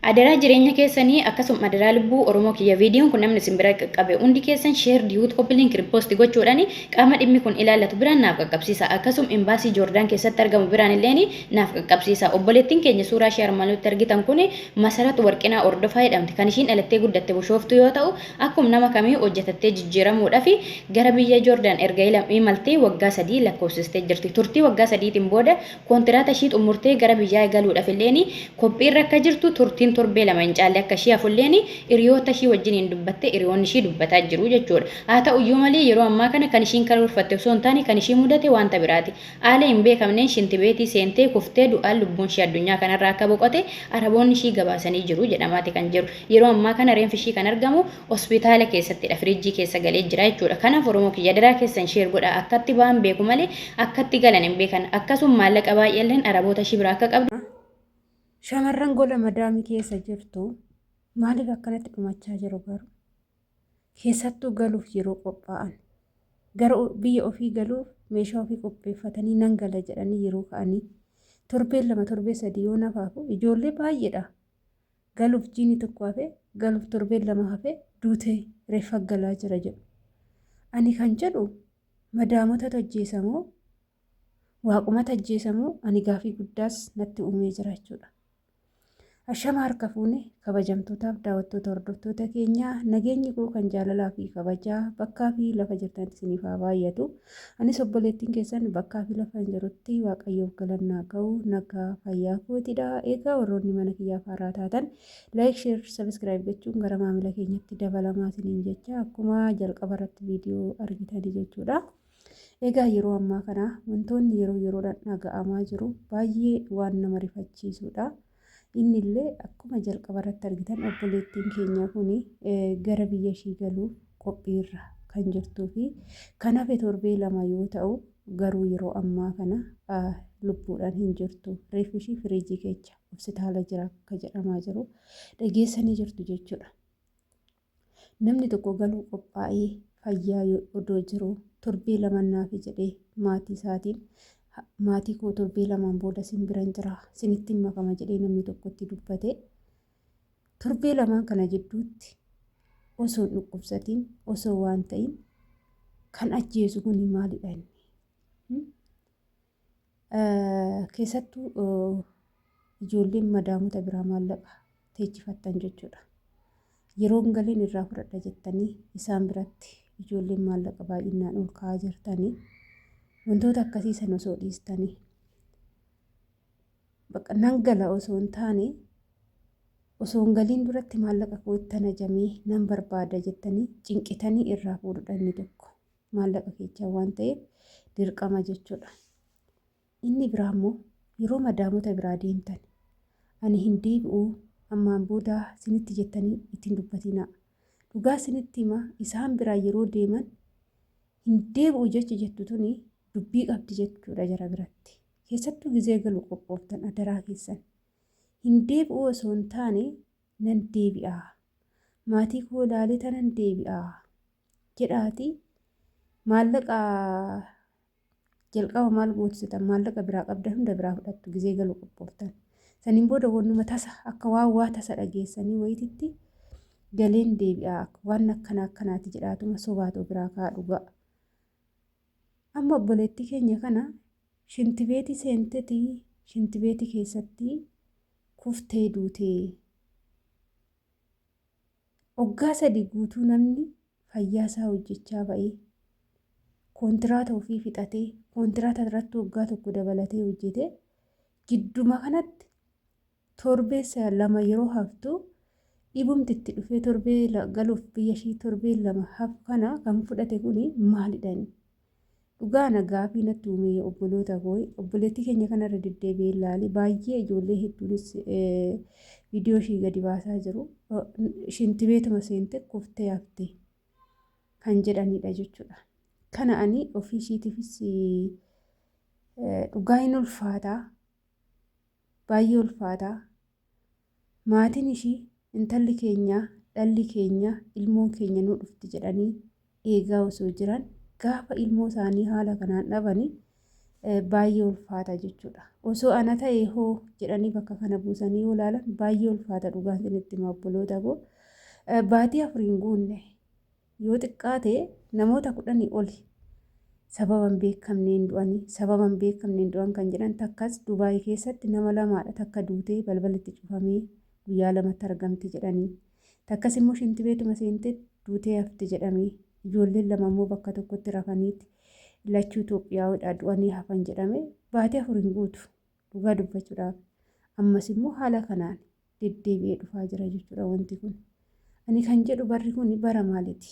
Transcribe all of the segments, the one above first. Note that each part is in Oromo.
Adaraa jireenya keessani akkasum adaraa lubbuu oromoo kiyya vidiyon kun namni isin bira qaqqabe hundi keessan share diut copy link repost gochuudhani qaama dhimmi kun ilaallatu biraan naaf qaqqabsiisa akkasum embassy Jordan keessatti argamu biraan illeeni naaf qaqqabsiisa obboleettin keenya suuraa ishee armaan olitti argitan kun Masarat Warqinaa Ordofaa jedhamti kan ishiin dhalattee guddatte Bushooftuu yoo ta'u akkum nama kamii hojjatattee jijjiiramuudhafi gara biyya Jordan erga imaltee waggaa sadii lakkoofsistee jirti turtii waggaa sadiitin booda Kontiraata ishii xummurtee gara biyyaa egaluudhaf illeen kophiirra akka jirtu turtiin torbee lama hin caalle akka ishii hafulleen hiriyoota ishii wajjiniin dubbattee hiriyoonni ishii dubbataa jiru jechuudha. Haa ta'u iyyuu malee yeroo ammaa kana kan ishiin karoorfatte osoo hin taane kan ishii mudate wanta biraati. Haala hin beekamneen shintibeetii seentee kuftee du'aan lubbuun ishii addunyaa kanarraa akka boqote Araboonni ishii gabaasanii jiru jedhamaati kan jiru. Yeroo ammaa kana reenfi ishii kan argamu Hospitaala keessattidha firiijjii keessa galee jira jechuudha. Kanaaf Oromoo kiyya adaraa keessan share godhaa akkatti ba'an beeku malee akkatti galan hin beekan. Akkasum maallaqa baay'eelleen Araboota ishii biraa akka qabdu. Shamarran gola madaami keessa jirtu maaliif akkanatti dhumachaa jiru garuu? Keessattuu galuuf yeroo qophaa'an gara biyya ofii galuuf meeshaa ofii qopheeffatanii nan gala jedhanii yeroo ka'anii torbeen lama torbee sadii yoo nafaafu ijoollee baay'eedha. galuuf jiini tokko hafe galuuf torbeen lama hafe duutee reeffa galaa jira jedhu ani kan jedhu madaamotatu ajjeesa moo waaqumata ajjeesa moo ani gaafii guddaas natti uumee jira jechuudha. Ashama harka fuune kabajamtootaaf daawwattoota hordoftoota keenyaa nageenyi koo kan jaalalaa fi kabajaa bakkaa fi lafa jirtanitti isiniif haa baay'atu. Anis obboleettiin keessan bakkaa fi lafaan jirutti Waaqayyoof galannaa ga'u nagaa fayyaa kootidha. Egaa warroonni mana kiyyaaf haaraa taatan like, share, subscribe gochuun gara maamila keenyatti dabalamaa isiniin jecha akkuma jalqaba irratti viidiyoo argitanii jechuudha. Egaa yeroo ammaa kana wantoonni yeroo yeroodhaan dhaga'amaa jiru baay'ee waan nama rifachiisudha. Inni illee akkuma jalqaba irratti argitan obboleettiin keenyaa kun gara biyya ishii galuuf qophiirra kan jirtuu fi kan hafe torbee lama yoo ta'u garuu yeroo ammaa kana lubbuudhaan hin jirtu. Reeffi ishii firiijii keessa hospitaala jira akka jedhamaa jiru dhageessanii jirtu jechuudha. Namni tokko galuu qophaa'ee fayyaa odoo jiruu torbee lama naafi jedhee maatii isaatiin maatii koo torbee lamaan booda sin biran jira sinittiin makama jedhee namni tokko itti dubbate torbee lamaan kana jidduutti osoo dhukkubsatiin osoo waan ta'in kan ajjeesu kun maalidha inni? Keessattuu ijoolleen madaamota biraa maallaqa teechifattan jechuudha. Yeroon galiin irraa fudhadha jettanii isaan biratti ijoolleen maallaqa baay'inaan ol ka'aa jirtanii wantoota akkasii sana osoo dhiistanii bakka nan gala osoo hin taane osoo hin galiin duratti maallaqa koo itti ajamee nan barbaada jettanii cinqitanii irraa fuudhudha inni tokko. maallaqa keechaa waan ta'eef dirqama jechuudha. Inni biraa immoo yeroo madaamota biraa deemtan ani hin deebi'uu ammaan booda sinitti jettanii ittiin dubbatinaa. Dhugaa sinitti hima isaan biraa yeroo deeman hin deebi'u jechi jettu tuni dubbii qabdi jechuudha jara biratti. Keessattuu gizee galu qophooftan adaraa keessan. Hin deebi'uu osoo hin taane nan deebi'aa. Maatii koo ilaalee tanan deebi'aa. jedhaatii maallaqa jalqaba maal gootu jetan maallaqa biraa qabdan hunda biraa fudhattu gizee galu qophooftan saniin booda wannuma tasa akka waan waa tasa dhageessanii wayititti galeen deebi'aa waan akkana akkanaati jedhaatuma sobaatoo biraa kaa dhugaa amma obboleettii keenya kana shintibeetii seentetii shintibeetii keessatti kuftee duutee Waggaa sadii guutuu namni fayyaa isaa hojjechaa ba'ee kontiraata ofii fixatee kontiraata irratti waggaa tokko dabalatee hojjetee gidduma kanatti torbeessa lama yeroo haftu dhibumti itti dhufee torbee galuuf biyya ishii torbee lama hafu kana kan fudhate kun maalidha inni? Dhugaa ana gaafii natti uume obboloota koo obboleettii keenya kanarra deddeebi'ee ilaali baay'ee ijoollee hedduunis viidiyoo ishii gadi baasaa jiru shinti beetuma seente kuftee hafte kan jedhanidha jechuudha. Kana ani ofii ishiitiifis dhugaa hin ulfaataa baay'ee ulfaataa. Maatiin ishii intalli keenya, dhalli keenya, ilmoon keenya nuu dhufti jedhanii eegaa osoo jiran gaafa ilmoo isaanii haala kanaan dhabani baay'ee ulfaata jechuudha. Osoo ana ta'e hoo jedhanii bakka kana buusanii yoo ilaalan baay'ee ulfaata dhugaan isinitti hima obboloota koo. Baatii afur hin guunne Yoo xiqqaate namoota kudhanii oli sababa hin beekamneen du'ani. Sababa hin beekamneen du'an kan jedhan takkas Dubaay keessatti nama lamaadha takka duutee balballi itti cufamee guyyaa lamatti argamti jedhani. Takkas immoo shintibeetuma seente duutee hafte jedhame. Ijoolleen lama immoo bakka tokkotti rafaniiti lachuu Itoophiyaawidha du'anii hafan jedhame. Baatii afur hin guutu. Dhugaa dubbachuudhaaf ammas immoo haala kanaan deddeebi'ee dhufaa jira jechuudha wanti kun. Ani kan jedhu barri kun bara maaliti?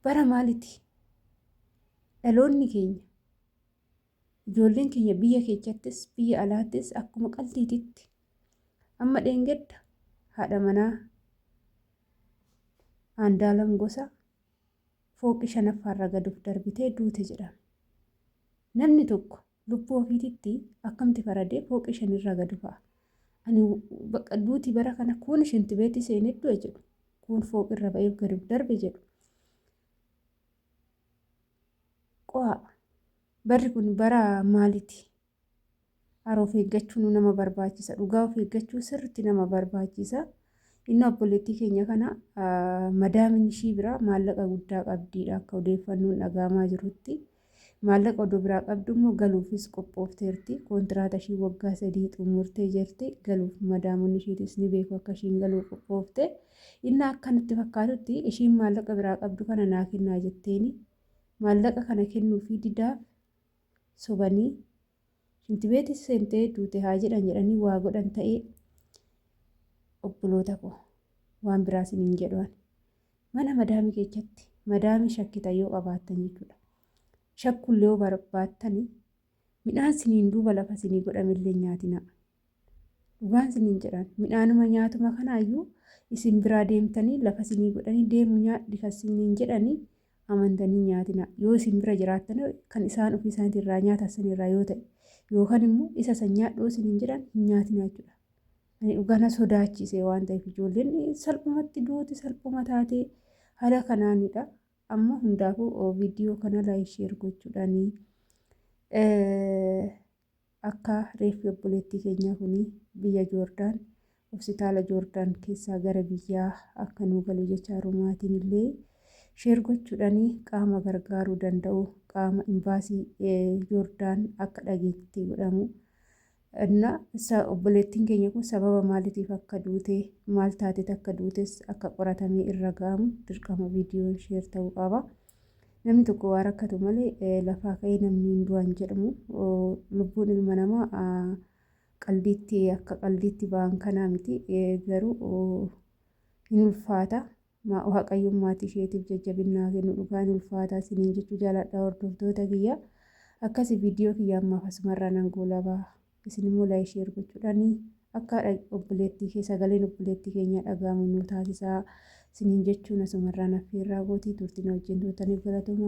Bara maaliti? Dhaloonni keenya ijoolleen keenya biyya keessattis biyya alaattis akkuma qaltiititti amma dheengadda haadha manaa aandaalam gosa fooqii shanaffaarra gaduuf darbitee duute jedhama. Namni tokko Lubbuu ofiititti akkamti faradee fooqii shanirraa gad bu'a. Ani bakka duuti bara kana kuun shinti beetii seenee du'e jedhu. Kuun fooqirra ba'eef gad darbe jedhu. Qo'aa barri kun bara maaliti? Haroo of eeggachuun nama barbaachisa. Dhugaa of eeggachuu sirriitti nama barbaachisa. Inni obboleettii keenya kana madaamin ishii biraa maallaqa guddaa qabdiidha akka odeeffannoon dhagaamaa jirutti. Maallaqa odoo biraa qabdu immoo galuufis qophoofteerti. Kontiraata ishii waggaa sadii xumurtee jirti. Galuuf madaamonni ishiitis ni beeku akka ishiin galuu qophoofte. Inni akka natti fakkaatutti ishiin maallaqa biraa qabdu kana naa kennaa jetteeni. Maallaqa kana kennuufii didaa sobanii Shintibeeti seentee duute haa jedhan jedhanii waa godhan ta'ee obboloota koo waan biraa isiniin jedhu ani. Mana madaamii keessatti madaamii shakkitan yoo qabaattan jechuudha. Shakkuullee yoo barbaattani midhaan siniin duuba lafa sinii godhamillee nyaatinaa. Dhugaan isiniin jedhan midhaanuma nyaatuma kanaayyuu isin biraa deemtanii lafa isinii godhanii deemu nyaadhi kan isiniin jedhanii amantanii nyaatina yoo isin bira jiraattan kan isaan ofii isaaniitiin irraa nyaatan san irraa yoo ta'e yookaan immoo isa san nyaadhu isiniin jedhan hin nyaatina jechuudha. Ani dhugaa na sodaachise waan ta'eef ijoolleen salphumatti duuti salphuma taatee haala kanaanidha. Amma hundaafuu viidiyoo kana laayik sheer gochuudhaanii. Akka reeffi obboleettii keenyaa kuni biyya Joordaan hositaala Joordaan keessaa gara biyyaa akka nuu galu jechaaru maatiin illee share gochuudhani qaama gargaaruu danda'u qaama imbaasii Joordaan akka dhageetti godhamu na sa obboleettiin keenya kun sababa maalitiif akka duute maal taateet akka duutes akka qoratamee irra ga'amu dirqama viidiyoon share ta'uu qaba. Namni tokko waa rakkatu malee lafaa ka'ee namni hin du'an jedhamu lubbuun ilma namaa qaldiitti akka qaldiitti ba'an kanaa miti garuu hin ulfaata waaqayyoon maatii isheetiif jajjabinnaa kennu dhugaa hin ulfaata isiniin jechuu jaaladha hordoftoota kiyya akkasi viidiyoo kiyya ammaaf asumarraa nan goolabaa. Isin immoo like share gochuudhaan akka haadha obboleettii kee sagaleen obboleettii keenyaa dhaga'amu nu taasisaa isiniin jechuun asumarraan affeerraa gootii turtii na wajjin turtaniif galatoomaa.